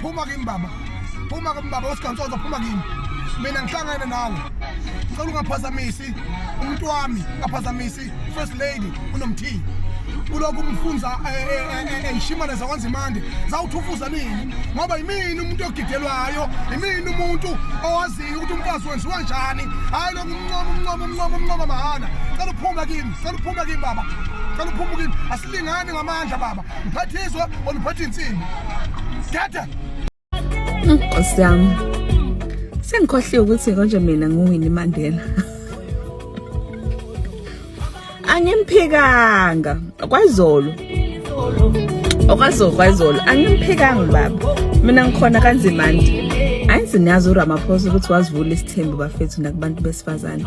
phuma kimi baba phuma kimi baba usigansozo phuma kimi mina ngihlangene nawe ngicela ungaphazamisi umuntu wami ungaphazamisi first lady unomthini kulokhu umfunza eyishimane eh, eh, eh, zakwenza imandi zawuthufuza nini ngoba yimini umuntu ogidelwayo yimini umuntu owaziyo ukuthi umfazi wenziwa njani hhayi lokhu umncoma umncoma umncoma umncoma mahhala cela uphume kimi cela uphume kimi baba cela uphume kimi asilingani ngamandla baba Mphathiswa oluphatha insimbi. Data. Nkosi yami. Sengikhohliwe ukuthi konje mina nguWinnie Mandela. Angimphikanga kwazolo. Okwazolo kwazolo angimphikanga baba. Mina ngikhona kanzima nje. Ayi sinazi uRamaphosa ukuthi wazivula isithembu bafethu nakubantu besifazane.